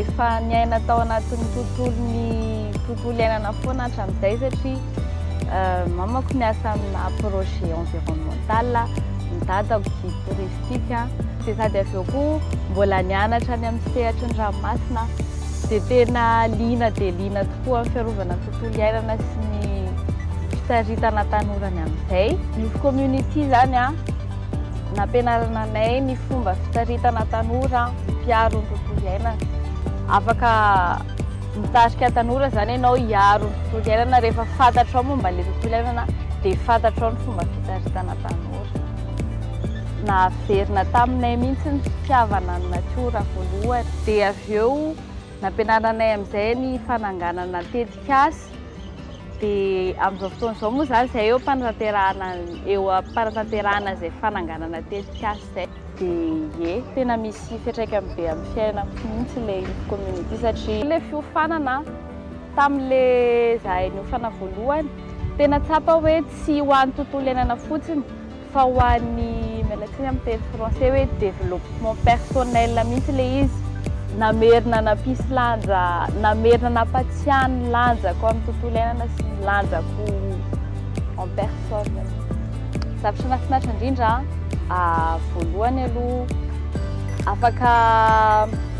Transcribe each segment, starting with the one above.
Efa niaina tao anatin'ny tontolon'ny tontolo iainana foana hatramin'izay satria mamako miasa amina projet environnemental, ny dadako guide touristique dia sady avy eo koa mbola nianatra any amin'ny sehatry ny ranomasina dia tena liana dia liana tokoa amin'ny fiarovana ny tontolo iainana sy ny fisaritana tanora ny amin'izay. Youth Community izany nampianarana anay ny fomba fisaritana tanora. mpiaro ny tontolo iainana. Afaka mitarika tanora izany ianao hiaro ny tontolo iainana rehefa fantatrao momba ilay tontolo iainana dia fantatrao ny fomba fitaritana tanora. Nahaverina taminay mihitsy ny fitiavana ny natiora voalohany. Dia avy eo nampianaranay amin'izay ny fananganana tetikasa. Dia amin'izao fotoana izao moa izany izahay eo am-panatanterahana eo am-panatanterahana izay fananganana tetikasa izay. Diee, tena misy fiatraikany be amin'ny fiainako mihitsy ilay ity commune ity satria ilay fiofanana tamin'ilay izahay niofana voalohany, tena tsapa hoe tsy ho an'ny tontolo iainana fotsiny fa ho an'ny, miala tsiny amin'ny teny français, hoe développement personnel mihitsy ilay izy. Namerina nampisy lanja, namerina nampatsiahy ny lanjako amin'ny tontolo iainana sy ny lanjako. en personne aloha. Zavatra mahafinaritra indrindra voalohany aloha afaka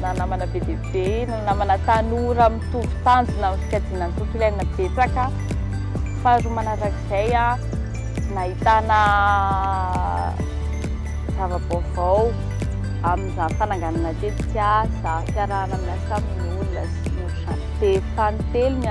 nanamana be dia be, nanamana tanora mitovy tanjona amin'ny fikajiana ny tontolo iainana betsaka. Faharoa manarak'izay nahitana zava-baovao amin'izany fananganana tetikasa, fiarahana amin'ny asa amin'ny olona sy ny ohatr'izany. Dia fanintelony